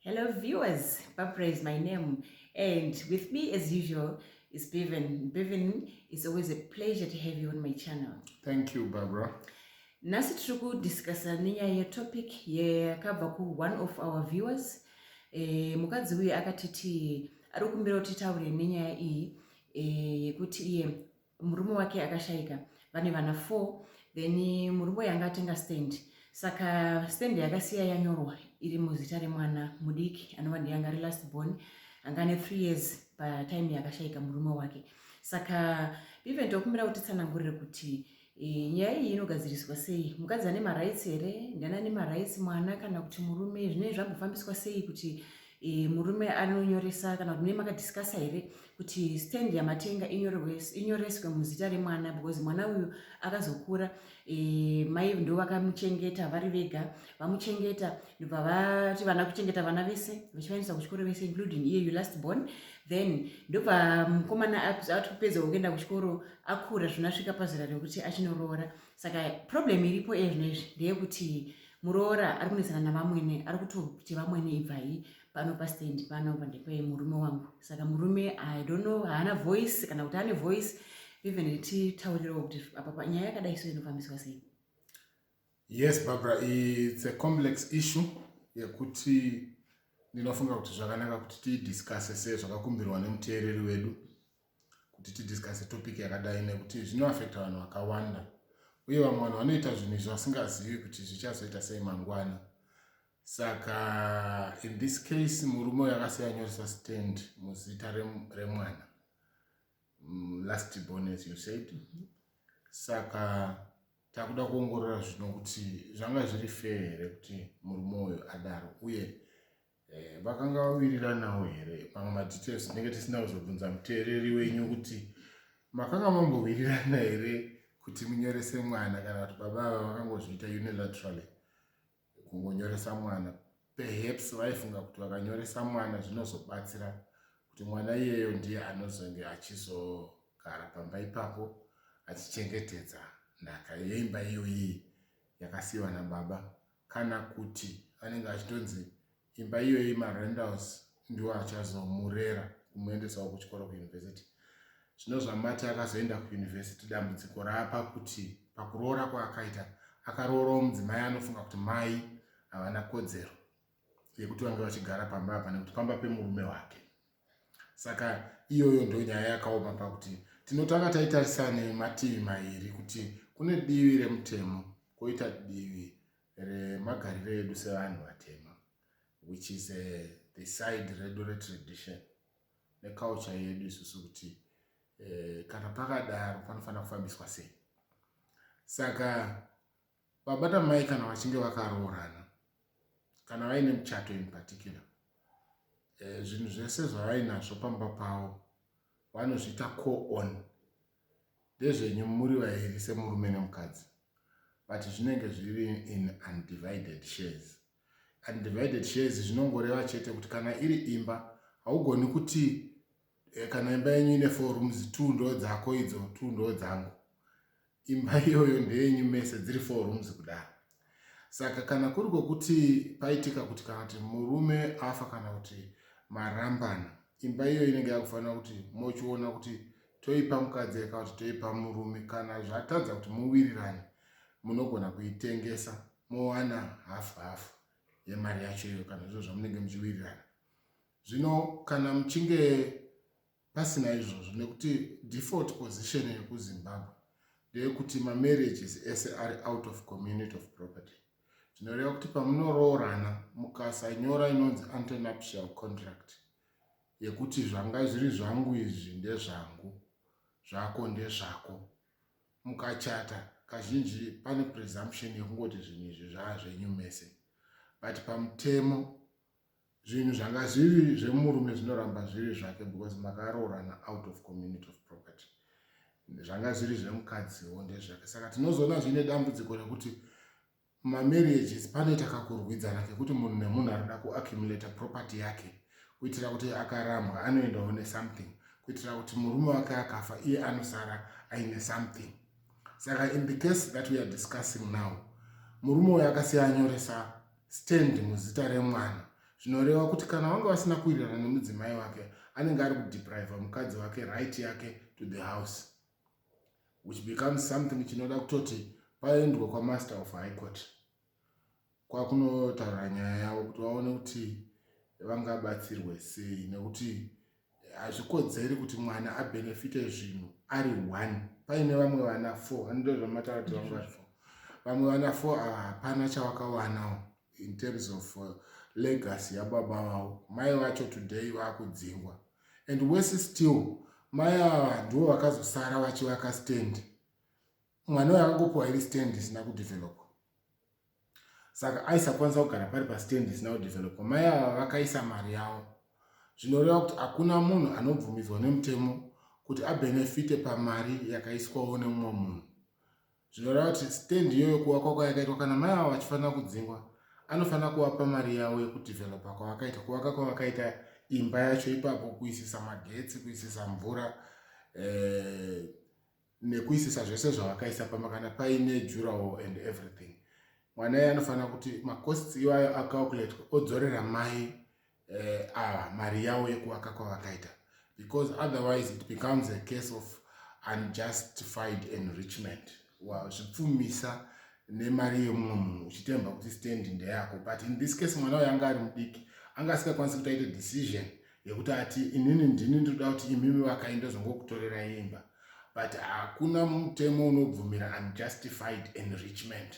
Hello viewers, Papa is my name and with me as usual is Bevan. Bevan, it's always a pleasure to have you on my channel. Thank you, Barbara. Nasi tiri kudiscussa nenyaya yetopic yakabva ku one of our viewers e, mukadzi uye akatiti ari kumbira kuti taure nenyaya iyi eh, yekuti e, iye murume wake akashaika vane vana four then murume uyu anga atenga stand saka stand yakasiya yanyorwa iri muzita remwana mudiki anova ndiye anga ari last born anga ane three years patime yakashaika murume wake saka even tokumbira kuti tsanangurire kuti e, nyaya iyi inogadziriswa sei mukadzi ane marights here ndiana ane marights mwana kana kuti murume zvinei zvambofambiswa sei kuti e, murume anonyoresa kana kuti mune makadiscasa here kuti stand yamatenga inyoreswe muzita remwana because mwana uyu akazokura e, mai ndo vakamuchengeta vari vega vamuchengeta ndobva vati vana kuchengeta vana vese vachivaendesa kuchikoro vese including iye you last born then ndobva mukomana ati kupedza kuenda kuchikoro akura zvinasvika pazera rekuti achinoroora saka problem iripo iye zvino izvi ndeyekuti muroora ari kunetsana navamwene ari kutoti vamwene ibvai pano pastand pano pandepe murume wangu saka murume i don't know haana voice kana kuti ane voice even titaurirewo kuti apa panyaya yakadai so inofambiswa sei yes barbara its a complex issue yekuti ndinofunga kuti zvakanaka kuti tiidiscase sezvakakumbirwa nemuteereri wedu kuti tidiscase topic yakadai nekuti zvinoaffecta vanhu vakawanda uye vamwe vanhu vanoita zvinhu izvo vasingazivi kuti zvichazoita sei mangwana saka in this case murume uyo akasiya anyoresa stand muzita remwana mm, last born as you said mm-hmm. saka takuda kuongorora zvino kuti zvanga zviri fair here kuti murume uyo adaro uye Eh, vakanga vawiriranawo here pamwe madetails tinenge tisina kuzobvunza muteereri wenyu kuti makanga mambowirirana here kuti munyorese mwana kana kuti baba ava vakangozviita unilaterally kungonyoresa mwana perhaps vaifunga kuti vakanyoresa mwana zvinozobatsira kuti mwana iyeyo ndiye anozonge achizogara pamba ipapo achichengetedza nhaka yeimba iyoyi yakasiyiwa nababa kana kuti anenge achitonzi imba iyoyi marendals ndiwo achazomurera kumuendesawo kuchikoro kuuniversity zvino zvamati akazoenda kuuniversity dambudziko raapa kuti pakuroora kwaakaita akaroorawo mudzimai anofunga kuti mai havana kodzero yekuti vange vachigara pamba apa nekuti pamba pemurume wake saka iyoyo ndo nyaya yakaoma pakuti tinotanga taitarisa nemativi mairi kuti kune divi remutemo koita divi remagariro edu sevanhu vatema which is a, eh, the side redu retradition neculture yedu isusu kuti eh, kana pakadaro panofanira kufambiswa sei saka Baba namai kana vachinge vakaroorana kana vaine muchato in particular eh, zvinhu e, zvese zvavainazvo pamba pavo vanozviita co-on ndezvenyu muri vairi semurume nemukadzi but zvinenge zviri in undivided shares undivided shares zvinongoreva chete kuti kana iri imba haugoni kuti Eh, kana imba yenyu ine four rooms two ndo dzako idzo two ndo dzangu imba iyoyo ndeyenyu mese dziri four rooms kudaro saka kana kuri kwokuti paitika kuti kana kuti murume afa kana kuti marambana imba iyoyo inenge yakufanira kuti mochiona kuti toipa mukadzi eka kuti toipa murume kana zvatadza kuti muwirirane munogona kuitengesa mowana hafu hafu yemari yacho iyoyo kana zviro zvamunenge muchiwirirana Zvino kana muchinge pasina izvozvo nekuti default position yekuzimbabwe ndeyekuti mamarriages ese ari out of community of property zvinoreva kuti pamunoroorana mukasanyora inonzi antenuptial contract yekuti zvanga zviri zvangu izvi ndezvangu zvako ndezvako mukachata kazhinji pane presumption yekungoti zvinhu izvi zvaazvenyu mese but pamutemo zvinhu zvanga zviri zvemurume zvinoramba zviri zvake because makaroorana out of community of property zvanga zviri zvemukadziwo ndezvake saka tinozoona zviine dambudziko rekuti mamarriages panoita kakurwidzana kekuti munhu nemunhu anoda kuaccumulata property yake kuitira kuti akarambwa anoendawo nesomething kuitira kuti murume wake akafa iye anosara aine something saka in the case that weare discussing now murume uyo akasiya anyoresa Stand muzita remwana zvinoreva kuti kana vanga vasina kuwirirana nemudzimai wake anenge ari kudepriva mukadzi wake right yake to the house which becomes something chinoda kutoti paendwa kwamaster of high court kwakunotaura nyaya yavo kuti vaone kuti vangabatsirwe sei nekuti hazvikodzeri kuti mwana abenefite zvinhu ari one paine vamwe vana four andozvamataura kuti vanga vari four vamwe vana four ava hapana chawakawanawo in terms of uh, legacy yababa vavo mai vacho today vakudzingwa and wese still mai ava ndivo vakazosara vachivaka stand mwana uyo akangopiwa iri stand isina kudevelopa saka aisakwanisa kugara pari pastand isina kudevelopa mai ava vakaisa mari yavo zvinoreva kuti hakuna munhu anobvumidzwa nemutemo kuti abenefite pamari yakaiswawo nemumwe munhu zvinoreva kuti stand iyoyo kuvakwa kwayakaitwa kana mai ava vachifanira kudzingwa anofanira kuvapa mari yavo yekudevelopa kwavakaita kuvaka kwavakaita imba yacho ipapo kuisisa magetsi kuisisa mvura eh, nekuisisa zvese zvavakaisa pamba kana paine jurawo and everything mwana iye anofanira kuti macosts iwayo acalculate odzorera mai eh, ava mari yavo yekuvaka kwavakaita because otherwise it becomes a case of unjustified enrichment zvipfumisa wow, nemari yemumwe munhu uchitemba kuti stand ndeyako but in this case mwana uyo anga ari mudiki anga asingakwanisi kuti aite decision yekuti ati inini ndini ndoda kuti imimi vakai ndozongokutorera imba but hakuna mutemo unobvumira unjustified enrichment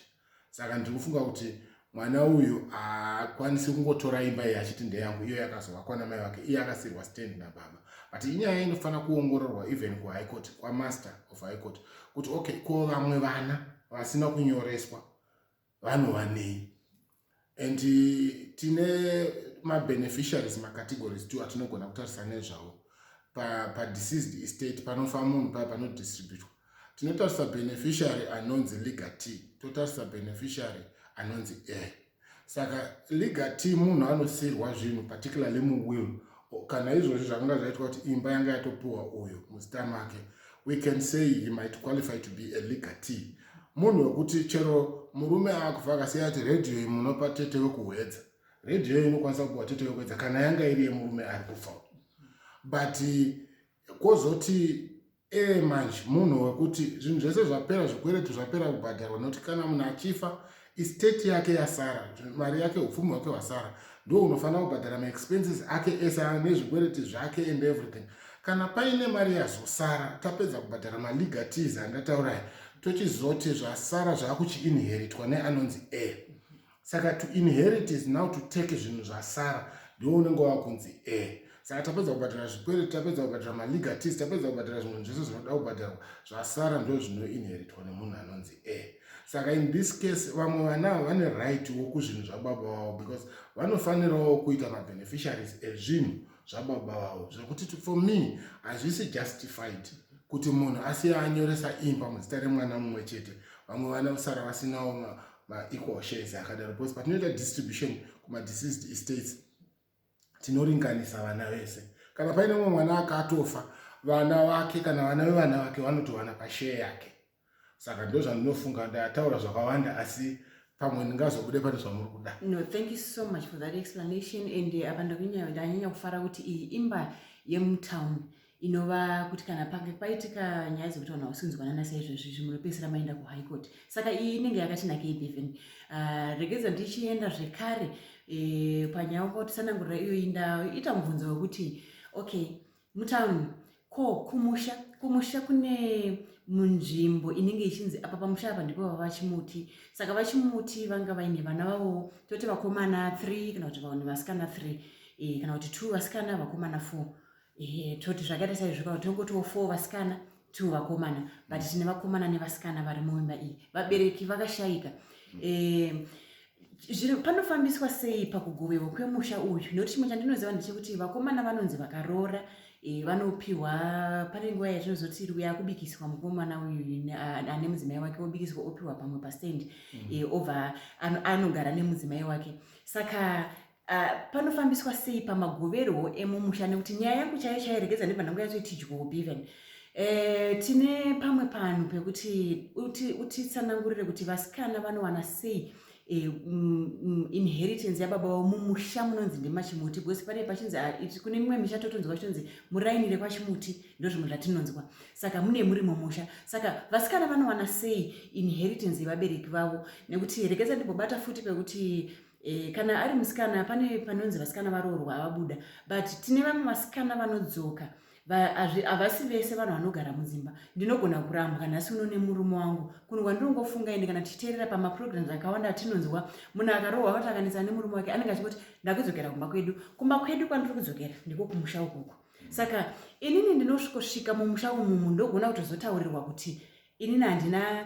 saka ndiri kufunga kuti mwana uyu haakwanisi kungotora imba iyi achiti ndeyangu iyo yakazovakwa namai vake iye akasirwa stand nababa but inyaya inofanira kuongororwa even kuhigh court kwamaster of high court kuti okay ko vamwe vana vasina kunyoreswa vanova nei and tine mabeneficiaries macategories two atinogona kutarisa nezvavo padeceased pa estate panofa munhu paya panodistributwa tinotarisa beneficiary anonzi liga t totarisa beneficiary anonzi a saka liga t munhu anosiyirwa zvinhu particularly muwill kana izvozvi zvakanga zvaitwa kuti imba yanga yatopuwa uyu muzita make we can say he might qualify to be a legatee munhu wekuti chero murume akufa akasiya ati redhiyo iyi munopa tete wekuhwedza redhiyo iyi inokwanisa kupuwa tete wekuhwedza kana yanga iri yemurume ari kufa but kozoti ee manje munhu wekuti zvinhu zvese zvapera zvikweretu zvapera kubhadharwa nokuti kana munhu achifa isteti yake yasara mari yake upfumi hwake hwasara ndo unofanira kubhadhara maexpenses ake ese nezvikwereti zvake and everything kana paine mari yazosara tapedza kubhadhara malegatis andataurayi tochizoti zvasara zvaakuchiinheritwa neanonzi a saka to inherit is now to take zvinhu zvasara ndiwo unenge wava kunzi e saka tapedza kubhadhara zvikwereti tapedza kubhadhara malegatis tapedza kubhadhara zvinhu zvese zvinoda kubhadharwa zvasara ndo zvinoinheritwa nemunhu anonzi e saka in this case vamwe vana ava vane right wo kuzvinhu zvababa vavo because vanofanirawo kuita mabeneficiaries ezvinhu zvababa vavo zvekuti for me hazvisi justified kuti munhu asiya anyoresa imba muzita remwana mumwe chete vamwe vana kusara vasinawo maequal shares akadaro because patinoita distribution kumadeceased estates tinoringanisa vana vese kana paine mumwe mwana akatofa vana vake kana vana vevana vake vanotowana pashare yake saka ndo zvandinofunga ndataura zvakawanda asi pamwe ndingazobude pane zvamuri kuda no thank you so much for that explanation and eh, apa ndakunyanya kufara kuti iyi imba yemutown inova kuti kana pange paitika nyaya dzekuti vanhu hausi kunzwanana saizvezvi izvi munopedzisira maenda kuhigh court saka iyi inenge yakati nakei beven uh, ah, regedza ndichienda zvekare e, panyaya uka kutisanangurira iyoyi ndaita mubvunzo wekuti okay mutown ko kumusha kumusha kune munzvimbo inenge ichinzi apa pamusha apa ndipo vava vachimuti saka vachimuti vanga vaine vana vavo toti vakomana three kana kuti vanhu vasikana three e, kana kuti two vasikana vakomana four ehe toti zvakaita saizvo kana tinongotiwo four vasikana two vakomana but tine vakomana nevasikana vari muimba iyi vabereki vakashaika Eh, zviri- panofambiswa sei pakugoverwa kwemusha uyu nokuti chimwe chandinoziva ndechekuti vakomana vanonzi vakaroora eh, vanopiwa pane nguva yatinozoti iri uya kubikiswa mukomana uyu ne- a- ane mudzimai wake wobikiswa opiwa pamwe pastand eh, obva ano- anogara nemudzimai wake saka Uh, panofambiswa sei pamagoverwo emumusha nekuti nyaya yangu chaiyo chairegedza ndibva ndangu yacho itidyowo beven uh, eh, tine pamwe panhu pekuti utitsanangurire uti kuti vasikana vanowana sei eh, mm, mm, inheritance yababa vavo mumusha munonzi ndemachimuti because pane pachinzi ah, kune mimwe misha totonzwa chitonzi muraini rekwachimuti ndozvimwe zvatinonzwa saka mune muri mumusha saka vasikana vanowana sei inheritance yevabereki vavo nekuti rekedza ndimbobata futi pekuti E, kana ari musikana pane panonzi vasikana varoorwa avabuda but tine vamwe vasikana vanodzoka havasi vese vanhu vanogara mudzimba ndinogona kurambwa kana asi uno nemurume wangu kunhu kwandinongofunga ende kana tichiteerera pamaprograms akawanda atinonzwa munhu akarohwa vati akanetsana nemurume wake anenge achingoti ndakudzokera kumba kwedu kumba kwedu kwandiri kudzokera ndiko kumusha ukuku saka inini ndinosvikosvika mumusha umumu ndogona kutozotaurirwa kuti inini handina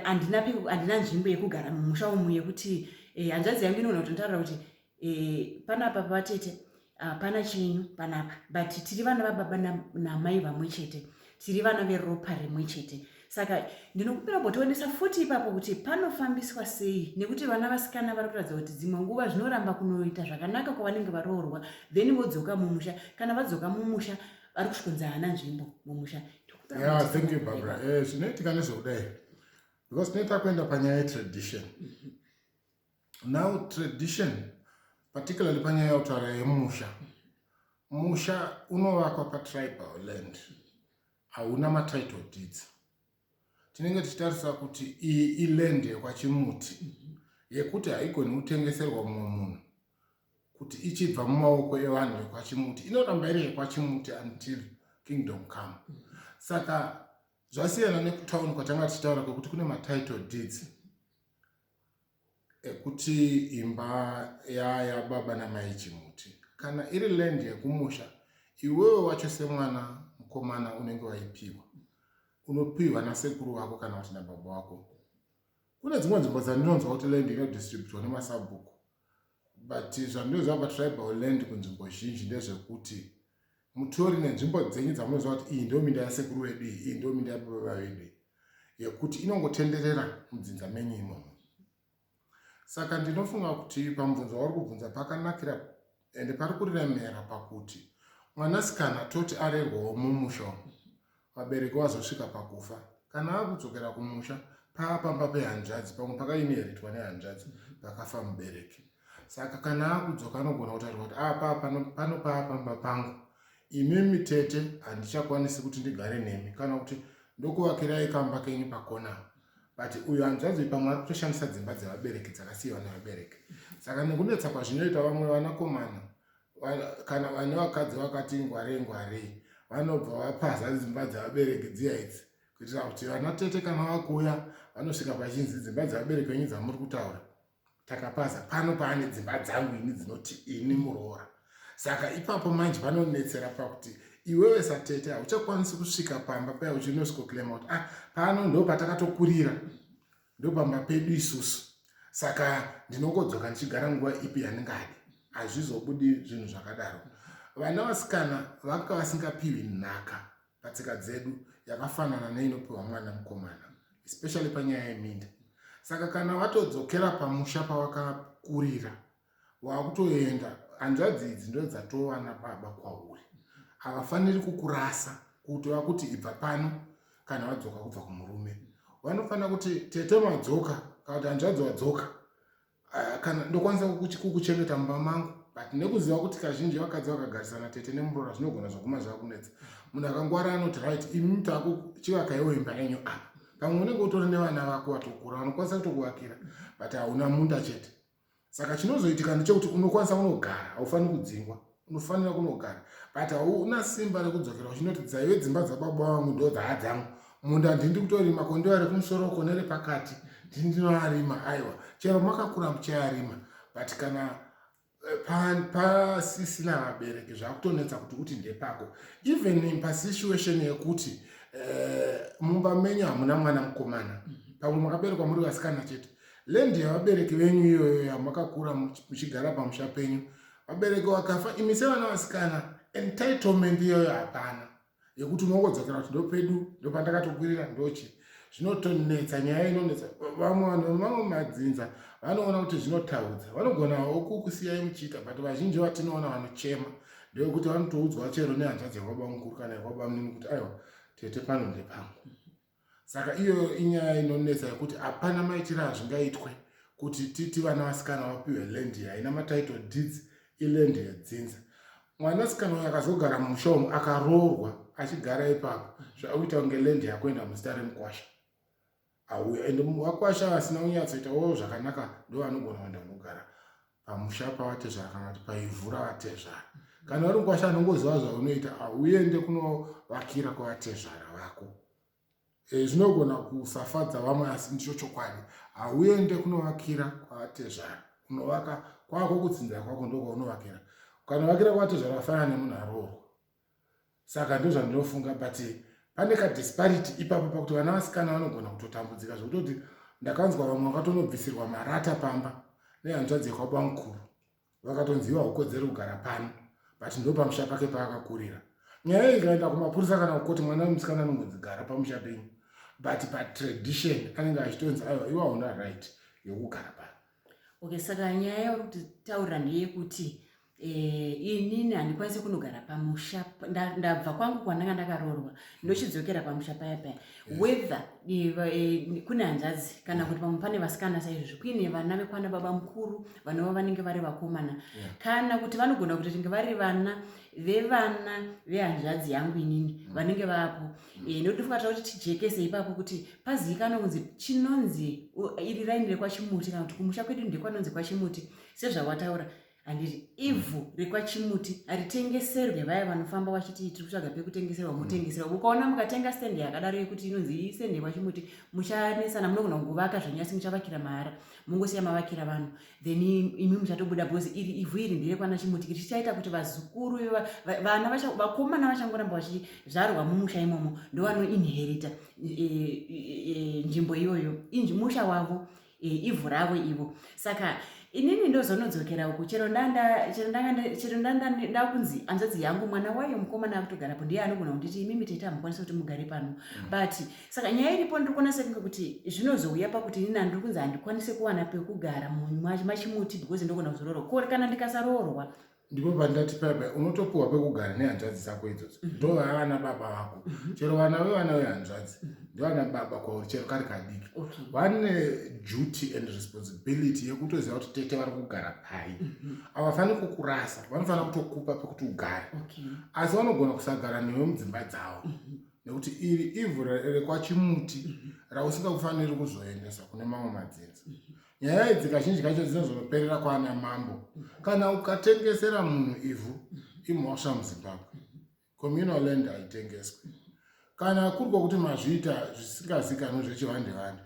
handina handina nzvimbo yekugara mumusha umu yekuti eh, hanzvadzi yangu inoona kuti ndotaura kuti eh, panapa pavatete hapana chenyu panapa but tiri vana vababa namai vamwe chete tiri vana veropa rimwe chete saka ndinokumbira kumbotionesa futi ipapo kuti panofambiswa sei nekuti vana vasikana vari kuratidza kuti dzimwe nguva zvinoramba kunoita zvakanaka kwavanenge varoorwa then vodzoka mumusha kana vadzoka mumusha vari kusvikunza hana nzvimbo mumusha yeah, thank you barbara eh, zvinoitika nezvekudai because tinoita kuenda panyaya yetradition mhm. now tradition particularly panyaya yautaura yemusha musha unovakwa patribal land hauna matitle deeds tinenge tichitarisa kuti iyi iland yekwachimuti yekuti haigoni kutengeserwa mumwe munhu kuti ichibva mumaoko evanhu vekwachimuti inoramba iri yekwachimuti until kingdom come saka zvasiyana nekutauni kwatanga tichitaura kwekuti kune matitle deeds ekuti imba yaya baba namai chimuti kana iri land yekumusha iwewe wacho semwana mukomana unenge waipiwa unopiwa nasekuru vako kana kuti nababa wako kune dzimwe nzvimbo dzandinonzwa kuti land inodistributwa nemasabhuku But zvandinoziva patribal land kunzvimbo zhinji ndezvekuti mutori nenzvimbo dzenyu dzamunoziva kuti iyi ndiyo minda yasekuru vedu iyi iyi ndiyo minda yababa vedu iyi yekuti inongotenderera mudzinza menyu imomo saka ndinofunga kuti pamubvunzo wauri kubvunza pakanakira ende pari kuremera pakuti mwanasikana toti arerwawo mumusha umu vabereki vazosvika pakufa kana akudzokera kumusha paa pamba pehanzvadzi pamwe pakainheritwa nehanzvadzi pakafa mubereki saka kana akudzoka anogona kutaura kuti apa ah, pano paa pamba pangu imimi tete handichakwanisi kuti ndigare nemi kana kuti ndokuvakirai kamba kenyu pakona but uyu hanzvadzi pamwe ari kutoshandisa dzimba dzevabereki dzakasiyiwa nevabereki saka nekunetsa kwazvinoita vamwe vanakomana kana vane vakadzi vakati ngwarei ngwarei vanobva vapaza dzimba dzavabereki dziya idzi kuitira kuti vana tete kana vakuuya vanosvika pachinzi dzimba dzavabereki venyu dzamuri kutaura takapaza pano paane dzimba dzangu ini dzinoti ini muroora saka ipapo manje vanonetsera pakuti iwewe satete hauchakwanisi kusvika pamba paya uchinosvikoclaima kuti ah pano ndo patakatokurira ndopamba pedu isusu saka ndinongodzoka ndichigara nguva ipi yandingadi hazvizobudi zvinhu zvakadaro vana vasikana vanga vasingapiwi nhaka patsika dzedu yakafanana neinopiwa mwana mukomana especially panyaya yeminda saka kana vatodzokera pamusha pavakakurira wakutoenda hanzvadzi idzi ndo dzatova nababa kwauri havafaniri kukurasa kuti vakuti ibva pano kana vadzoka kubva kumurume vanofanira kuti tete madzoka kana kuti hanzvadzi wadzoka ah, kana ndokwanisa kukuchengeta mumba mangu but nekuziva kuti kazhinji vakadzi vakagarisana tete nemurora zvinogona zvakuma zvakunetsa munhu akangwara anoti right imi taku chivakaiwo imba yenyu apa pamwe unenge utori nevana vako vatokura vanokwanisa kutokuvakira but hauna munda chete saka chinozoitika ndechekuti unokwanisa kunogara haufaniri kudzingwa unofanira kunogara but hauna simba rekudzokera uchinoti dzaive dzimba dzababa vangu ndo dhaa dzangu munda ndindi kutorima ko ndivari kumusoro ko nerepakati ndindinoarima aiwa chero makakura muchayarima but kana eh, pasisina pa vabereki zvakutonetsa kuti uti ndepako even pasituation yekuti eh, mumba menyu hamuna mwana mukomana pamwe makaberekwa muri vasikana chete Land yavabereki venyu iyoyo yamakakura muchigara pamusha penyu. Vabereki wakafa imi sevana vasikana entitlement iyoyo hapana yekuti unongodzokera kuti ndopedu ndopandakatokwirira ndochi zvinotonetsa nyaya inonetsa vamwe vanhu vemamwe madzinza vanoona kuti zvinotaudza vanogonawo kukusiyai muchiita but vazhinji vatinoona vanochema ndewekuti vanotoudzwa chero nehanzvadzi yakwabamukuru kana yakwabamnini kuti aiwa tete pano ndepangu saka iyoyo inyaya inonetsa yekuti hapana maitiro azvingaitwe kuti titi vana vasikana vapiwe land iyi haina matitle deeds iland yedzinza mwanasikana uyo akazogara mumusha umu akaroorwa achigara ipapo zvauita kunge land yakuenda muzita remukwasha auya ende vakwasha vasina kunyatsoitawo zvakanaka ndovanogona kuenda kunogara pamusha pavatezvara kana kuti paivhu ravatezvara kana vari mukwasha anongoziva zvaunoita auende kunovakira kwavatezvara vako eh, zvinogona kusafadza vamwe asi ndicho chokwadi hauende kunovakira kwavatezvara unovaka kwako kutsinzira kwako ndokwaunovakira ukanovakira kwavatezvara vafanana nemunhu aroorwa saka ndozvandinofunga but pane kadisparity ipapo pakuti vana vasikana vanogona kutotambudzika zvekutoti ndakanzwa vamwe vakatonobvisirwa marata pamba nehanzvadzi yekwabamukuru vakatonziwa ukodzero kugara pano but ndopamusha pake paakakurira nyaya iyi ikaenda kumapurisa kana kukoti mwana wemusikana anongonzigara pamusha penyu but patradition anenge achitonzi aiwa iwa una right yekugara pano okay saka nyaya yauri kutaurira ndeyekuti Eh, inini handikwanisi kunogara pamusha ndabva kwangu kwandanga ndakaroorwa ndochidzokera pamusha paya paya eh. whether eh, eh, kune hanzvadzi kana kuti pamwe pane vasikana saizvozvo kuine vana vekwana baba mukuru vanova vanenge vari vakomana kana kuti vanogona kuti ringe vari vana vevana vehanzvadzi yangu inini mm. vanenge vapo Eh, nekuti fungata kuti tijekese ipapo kuti pazivikanwe kunzi chinonzi iri raini rekwachimuti kana kuti kumusha kwedu ndekwanonzi kwachimuti sezvawataura handiti ivhu rekwachimuti haritengeserwe vaya vanofamba vachiti tiri kutsvaga pekutengeserwa mm. motengeserwa ukaona mukatenga stendi yakadaro yekuti inonzi iyi stendi yekwachimuti muchanesana munogona kuvaka zvanyasi muchavakira mahara mongosiya mavakira vanhu then imi muchatobuda because iri ivhu iri ndere kwana chimutikiri chichaita kuti vazukuru vana vakomana vachangoramba vachizvarwa mumusha imomo ndovanoinherita e, e, e, nzvimbo iyoyo musha wavo ivhu ravo ivo saka inini ndozonodzokera uku chero ndakunzi anzadzi yangu mwana wayo mukomana akutogarapo ndiye anogona kunditi imimi tete hamukwanisa kuti mugare pano mm. but mm. saka nyaya iripo ndiri kuona sekunge kuti zvinozouya pakuti ini nandiri kunzi handikwanise kuwana pekugara munyu macho machimuti because ndogona kuzoroorwa kore kana ndikasaroorwa ndipo pandati paipa unotopiwa pekugara nehanzvadzi dzako idzodzo mhm. ndo vavana baba vako mhm. chero vana vevana vehanzvadzi mhm. ndivana baba kwauri chero kari kadiki vane duty and responsibility yekutoziva kuti tete vari kugara pai havafaniri kukurasa vanofanira kutokupa pekuti ugare asi vanogona kusagara newe mudzimba dzavo nekuti iri ivhu rekwachimuti mhm. rausingakufaniri kuzoendesa kune mamwe madzinza mhm. nyaya idzi kazhinji kacho dzinozoperera kwaana mambo mhm. kana ukatengesera munhu ivhu imhosva muzimbabwe communal land haitengeswe kana kuri kwokuti mazviita zvisingazikanwi zvechivandevande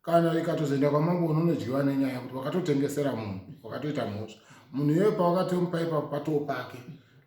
kana ikatozoenda kwamambo unonodyiwa nenyaya kuti wakatotengesera munhu wakatoita mhosva munhu iyoyo pawakatomupa ipapo patoo pake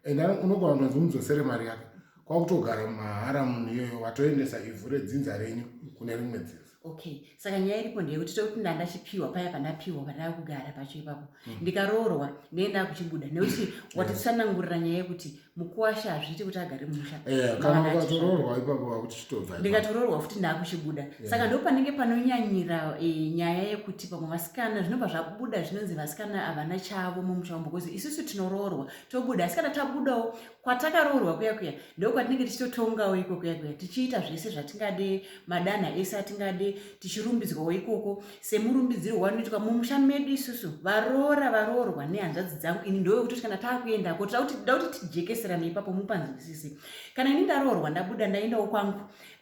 and unogona kutonzi mudzosere mari yake kwakutogara mahara munhu iyoyo watoendesa ivhu redzinza renyu kune rimwe dzinza okay saka nyaya iripo ndeyekuti tiri kuti ndanga chipiwa paya pandapiwa pandava kugara pacho ipapo mm. ndikaroorwa ndee ndava kuchibuda nekuti watitsanangurira nyaya yekuti mukuwasha hazviite kuti agare mumusha eh, kana mukatoroorwa ipapo vakuchitobva ndikatoroorwa futi ndaakuchibuda eh. saka ndo panenge panonyanyira eh, nyaya yekuti pamwe vasikana zvinobva zvabuda zvinonzi vasikana havana chavo mumusha wambo bcause isusu tinoroorwa tobuda asi kana tabudawo kwatakaroorwa kuya kuya ndo kwatinenge tichitotongawo ikoko kuya kuya tichiita zvese zvatingade madanha ese atingade tichirumbidzwawo ikoko semurumbidzirwo wanoitwa mumusha medu isusu varoora varoorwa nehanzvadzi dzangu ini ndove kutoti kana taakuendako tida kuti tida kuti tijekeserane ipapo mupanzwisise kana ini ndaroorwa ndabuda ndaendawo kwangu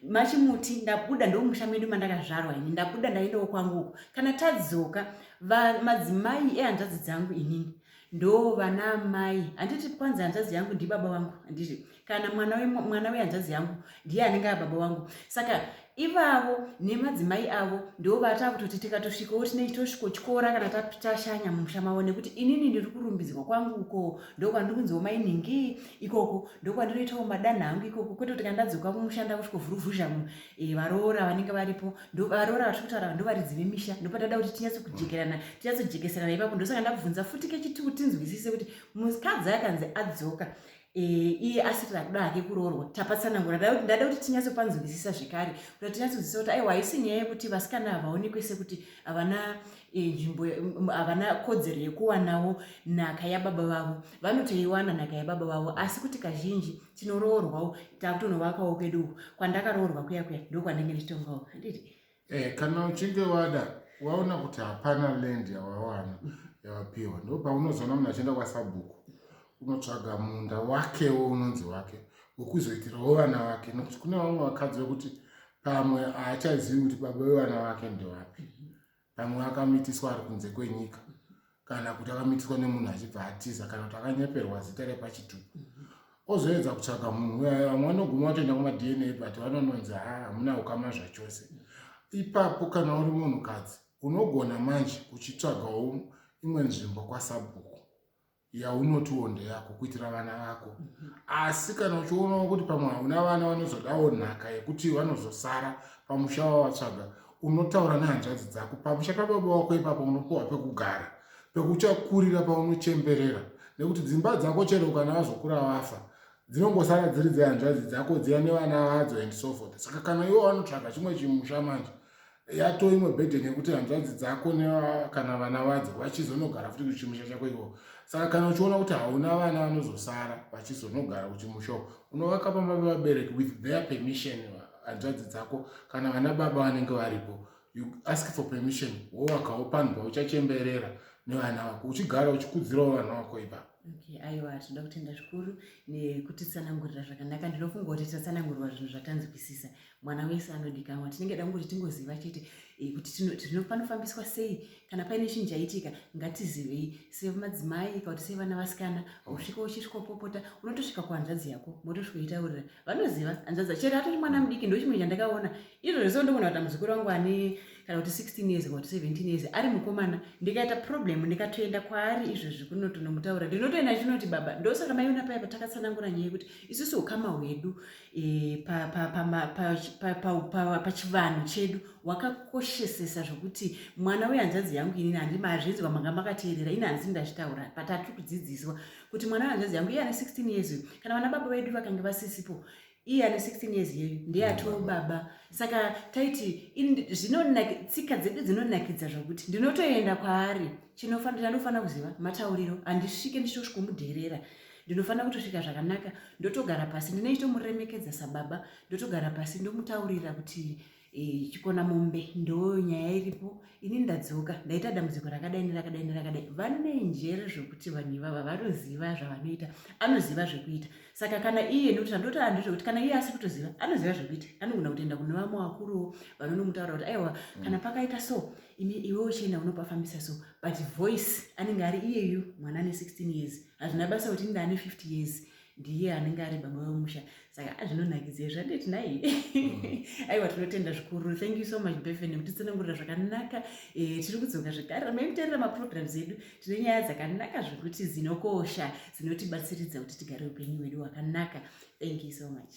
machimuti ndabuda ndomumusha medu mandakazvarwa ini ndabuda ndaendawo kwangu uko kana tadzoka madzimai ehanzvadzi dzangu inini ndoo vana amai handiti kwanzi hanzvadzi yangu ndibaba vangu handiti kana mwana wehanzvadzi yangu ndiye anenge ababa vangu saka ivavo nemadzimai avo ndo vata kutoti tikatosvikawo tine tosvikotyora kana tashanya mumusha mavo nekuti inini ndiri kurumbidzwa kwangu uko ndokwandiri kunziwo mainhingi ikoko ndokwandinoitawo madanha angu ikoko kwete kuti kandadzoka kumusha ndakusvikovhuruvhuzha Eh, varoora vanenge varipo varoora vatiri kutaura ndovaridzi vemisha ndopatada kuti tinyatso kujekerana tinyatso jekeserana ipapo ndosaka ndakubvunza futi kechituku tinzwisise kuti mukadzi akanzi adzoka eh, iye asiri akuda hake kuroorwa tapatsanangura ndada kuti tinyatso panzwisisa zvekare kuti tinyatso nzwisisa kuti aiwa haisi nyaya yekuti vasikana havaonekwe sekuti havana eh, nzvimbo havana kodzero yekuwanawo nhaka yababa vavo vanotoiwana nhaka yababa vavo asi kuti kazhinji tinoroorwawo takutonovakawo kwedu uku kwandakaroorwa kuya kuya ndokwandenge ndichitongawo handiti eh, kana uchinge wada waona kuti hapana land yawawana yawapiwa ndo paunozoona munhu achienda kwasabhuku unotsvaga munda wakewo unonzi wake wekuzoitirawo vana vake nokuti kune vamwe vakadzi vekuti pamwe haachazivi kuti baba vevana vake ndewapi pamwe akamitiswa ari kunze kwenyika kana kuti akamitiswa nemunhu achibva atiza kana kuti akanyeperwa zita repachituku ozoedza kutsvaga munhu uyayo vamwe vanoguma vatoenda kumadna but vanononzi ha hamuna ukama zvachose ipapo kana uri munhukadzi unogona manje uchitsvagawo imwe nzvimbo kwasabhuku yaunotiwo ndeyako kuitira vana vako mhm. asi kana uchionawo kuti pamwe hauna vana vanozodawo nhaka yekuti vanozosara pamusha wavatsvaga unotaura nehanzvadzi dzako pamusha pababa wako ipapo unopiwa pekugara pekuchakurira paunochemberera nekuti dzimba dzako chero kana vazokura vafa dzinongosara dziri dzehanzvadzi dzako dziya nevana vadzo and so forth saka kana iwo vanotsvaga chimwe chimusha manje yatoo imwe burden yekuti hanzvadzi dzako kana vana vadzo vachizonogara futi kuchimusha chako iwo saka kana uchiona kuti hauna vana vanozosara vachizonogara kuchimusha unovaka pamba pevabereki with their permission hanzvadzi dzako kana vana baba vanenge varipo you ask for permission wowakawo panhu pauchachemberera nevana vako uchigara uchikudzirawo vana vako ipapo okay aiwa tinoda kutenda zvikuru nekutitsanangurira zvakanaka ndinofunga kuti tatsanangurirwa zvinhu zvatanzwisisa mwana wese anodikanwa tinenge da kungoti tingoziva chete eh, kuti tinofanofambiswa sei kana paine chinhu chaitika ngatizivei semadzimai kana kuti sevana vasikana usvika uchisvika upopota unotosvika kuhanzvadzi yako motosvika uchitaurira vanoziva hanzvadzi chero atori mwana mudiki ndo chimwe chandakaona izvo zvese ndogona kuti muzukuru wangu ane kana kuti 16 years kana kuti 17 years ari mukomana ndikaita problem ndikatoenda kwaari izvozvi kunotonomutaura ndinotoenda chinoti baba ndosaka maiona paya patakatsanangura nyaya yekuti isusu ukama hwedu e, pachivanhu chedu wakakoshesesa zvokuti mwana wehanzvadzi yangu inini handima hazvinzwa manga makateerera ini handisi ndazvitaura patatiri kudzidziswa kuti mwana wehanzvadzi yangu iye ane 16 years uyu kana vana baba vedu vakange vasisipo iye ane 16 years yeyu ndeyatoo baba saka taiti tsika dzedu dzinonakidza zvokuti ndinotoenda kwaari chinofanira ndofanira kuziva matauriro handisvike ndichitosvikomudherera ndinofanira kutosvika zvakanaka ndotogara pasi ndinoitomuremekedza sababa ndotogara pasi ndomutaurira kuti e, chikona mombe ndo nyaya iripo ini ndadzoka ndaita dambudziko rakadai nerakadai nerakadai vane njere zvokuti vanhu ivava vanoziva zvavanoita anoziva zvekuita saka kana iye nekuti andoti anhu zvekuti kana iye asi kutoziva anoziva zvekuita anogona kutoenda kune vamwe vakuruwo vanonomutaura kuti aiwa kana mm. pakaita so ini iwe uchienda unopafambisa so but voice anenge ari iyeyu mwana ane 16 years hazvina basa kuti inda ane 50 years ndiye anenge ari baba vemusha saka azvinonakidza izvi anditi nai mm. aiwa tinotenda zvikuru thank you so much befen kutitsanangurira zvakanaka eh, tiri kudzoka zvekare ramai kutarira maprograms edu tine nyaya dzakanaka zvekuti dzinokosha dzinotibatsiridza kuti tigare upenyu hwedu hwakanaka thank you so much